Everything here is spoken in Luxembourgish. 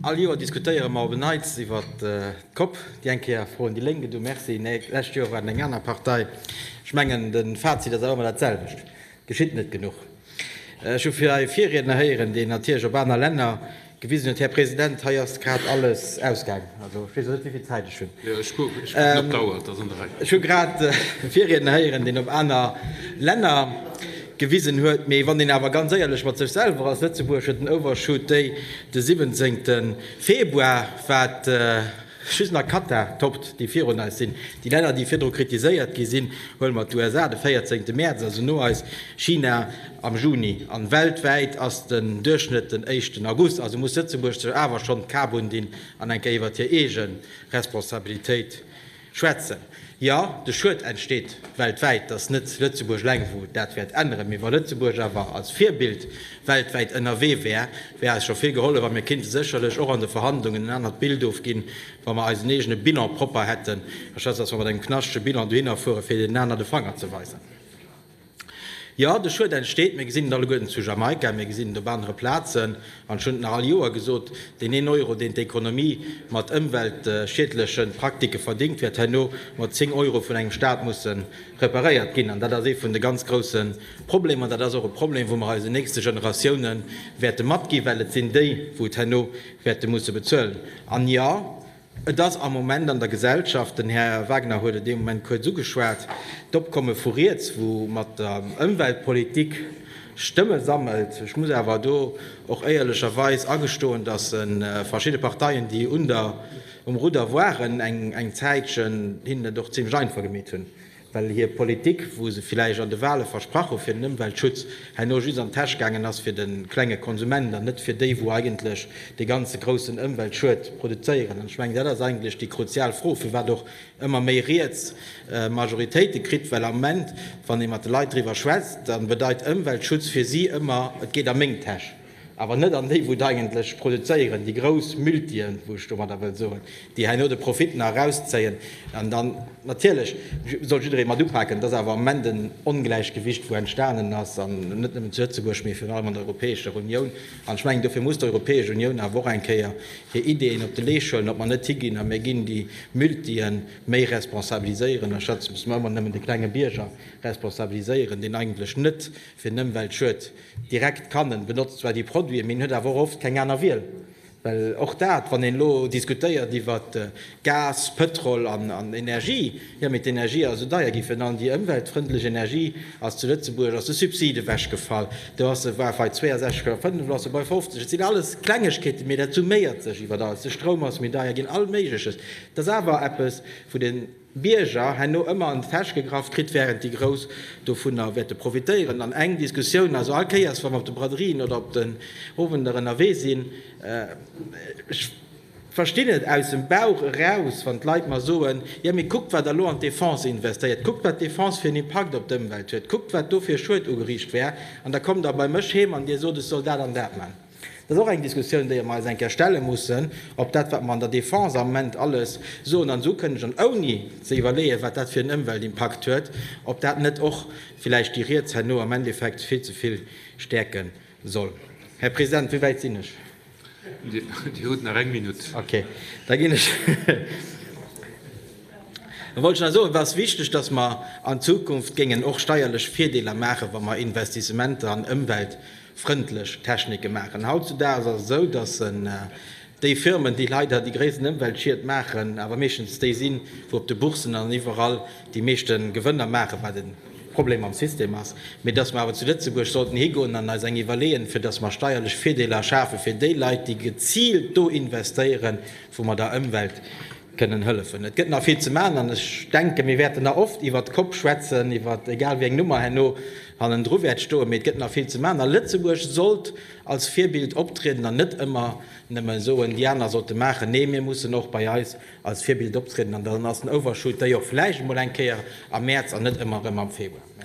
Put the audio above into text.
All Joer diskutéiere mer op en Neits iwwer d'Cope. Déi eng Kéier froen déi Lénk et u Mercy, nee, d'lescht Joer war et eng aner Partei. Ech mengen, de Fazit ass awer ëmmer dat selwecht, Et geschitt net genuch. Ech hu hei Virriedner héieren, deen natierlech op aner Länner gewisen huet. Här President, hei ass grad alles ausgaang. Also, ech weess elo net, wéivill Zäit ech hunn. Ech hu grad e Virriedner héieren, deen op aner Länner. Gewisen huet. Mee wann een awer ganz éierlech mat sech selwer ass, Lëtzebuerg huet den Overshoot Day de 17 Februar, wat just nach Katar toppt, déi virun eis sinn. Déi Länner, déi virdru kritiséiert gi sinn, huele mer d'USA de 14 Mäerz, also no eis, China am Juni, an weltwäit ass den Duerchschnëtt den éischten August. Also muss Lëtzebuerg sech awer schonn d'Kap undinn an eng Kéier iwwert hir eege Responsabilitéit Schwätzen. Jo, de Schued entsteet weltwäit. Et ass net Lëtzebuerg eleng, wou dat wäert änneren. Mee wa Lëtzebuerg awer als Virbild weltwäit ënnerwee wär, wär eis scho vill gehollef. A mir kéinte sécherlech och an de Verhandlungen en anert Bild ofginn, wa mer eisen eegene Bilan propper hätten, anstatt datt mer mat engem knaschtege Bilan dohinner fueren, fir deenen aner de Fanger ze weisen. Jo, de Schued entsteet. Mir gesinn et alleguerten zu Jamaika, mir gesinn et op anere Plazen. An ech hunn et nach all Joer gesot, Deen een Euro, deen d'Ekonomie mat ëmweltschiedleche Praktike verdéngt, wäert herno mat zéng Euro vun engem Staat musse reparéiert ginn. An dat ass ee vun de ganz grousse Problemer. Dat ass och e Problem, wou mer eisen nächste Generatiounen wäerte matginn, well et sinn déi, wou et herno wäerte musse bezuelen. An jo, Et ass am Moment an der Gesellschaft, den Här Wagner huet et ee Moment kuerz ugeschwat, d'Opkomme vu riets, wou mat der Ëmweltpolitik Stëmme sammelt. Ech muss awer do och éierlecherweis agestoen, datt verschidde Parteien, déi um Rudder waren eng Zäitchen, hinnen et och zimmlech einfach gemeet hunn, well hir Politik, wou se villäicht an de Wahle versprach hu fir den Ëmweltschutz, herno just an d'Täsch gaangen ass fir de klenge Konsument an net fir déi, wou eigentlech dee ganze groussen Ëmweltschued produzéieren. An ech mengen, dat ass eigentlech déi kruzial Fro, firwat och ëmmer méi riets Majoritéite kritt, well am Moment, wann ee mat de Leit driwwer schwätzt, da bedeit Ëmweltschutz fir si ëmmer, et geet a meng Täsch. Awer net an déi wou et eigentlech produzéieren, déi grouss Multien, wou ech domadder wëll soen, déi herno de Profit nach erauszéien. An dann natierlech soll jidderee mat upaken. Et ass awer am Moment en Ongläichgewicht wou entstanen ass, an net nëmmen zu Lëtzebuerg, mee virun allem an der Europäescher Unioun. An ech mengen dofir muss d'Europäesch Unioun awer och eng Kéier hir Ideeën op de Leescht huelen, ob mer net higinn a mir ginn déi Multien méi responsabiliséieren, anstatt dass mer ëmmer nëmmen de klenge Bierger responsabiliséieren, deen eigentlech net fir den Ëmweltschutz Direkt Canon benotzt zwar déi Produiten, mee en huet awer och oft keng aner Wiel, well och dat, wann een elo diskutéiert iwwer Gas, Pëtrol an Energie, jo, mee d'Energie ass esou deier gi fir an déi ëmweltfrëndlech Energie ass zu Lëtzebuerg ass de Subsid ewechgefall, do ass e, war bei 62 Euro, 5 ass e bei 50. Et sinn alles Klengegkeeten, mee dat summéiert sech iwwer alles. De Stroum ass méi deier ginn, all Méigleches. Et ass awer eppes, wou de. Bierger herno ëmmer an d'Täsch gegraff kritt, wärend déi Grouss dovunner wäerte profitéieren. An eng Diskussioun, also all Kéiers, wa mer op de Braderien oder op den Owender ënnerwee sinn, ech verstinn et aus dem Bauch eraus, wann d'Leit mer soen, jo mee kuckt wat Der lo an d'Defense investéiert, kuckt wat d'Defense fir en Impakt op d'Ëmwelt huet, kuckt wat do fir e Schued ugeriicht wär, an da kommt Der bei mech heem an Dir sot, ech soll dat an dat man. Dat ass och eng Diskussioun, déier mer eis eng Kéier stelle mussen, ob dat, wat mer an der Defense am Moment alles soen an esou kënnegen, ouni ze iwwerleeën, wat dat fir en Ëmweltimpakt huet, ob dat net och villäicht déi riets herno am Endeffekt vill ze vill stäerke soll. Här President, wéi wäit sinn ech? Dir hutt nach eng Minutt. Okay, da ginn ech. Da wollt ech nach soen, et ass wichteg, dass mer an Zukunft géingen och steierlech Virdeeler maachen, wa mer Investissementer an Ëmwelt, frëndlech Technike maachen. Hautzudaags ass et esou, dass déi Firmen, déi leider déi gréissten Ëmweltschied maachen, awer meeschtens déi sinn, wou op de Bourssen an iwwerall déi meeschte Gewënner maachen, wat e Problem am System ass, mee dass mer awer zu Lëtzebuerg sollten higoen an eis eng iwwerleeën, fir dass mer steierlech Virdeeler schafe fir déi Leit, déi geziilt do investéieren, wou mer der Ëmwelt kënnen hëllefen. Et gëtt nach vill ze maachen an ech denken, mir wäerten nach oft iwwert Kopp schwätzen, iwwert egal wéi eng Nummer herno hannendru wäert stoen, mee et gëtt nach vill ze maachen a Lëtzebuerg sollt als Virbild optrieden an net ëmmer nëmme soen, déi aner sollte maachen. Nee, mir mussen och bei eis als Virbild optrieden an dann ass den Overshoot déi och vläicht emol eng Kéier am Mäerz an net ëmmer erëm am Februar.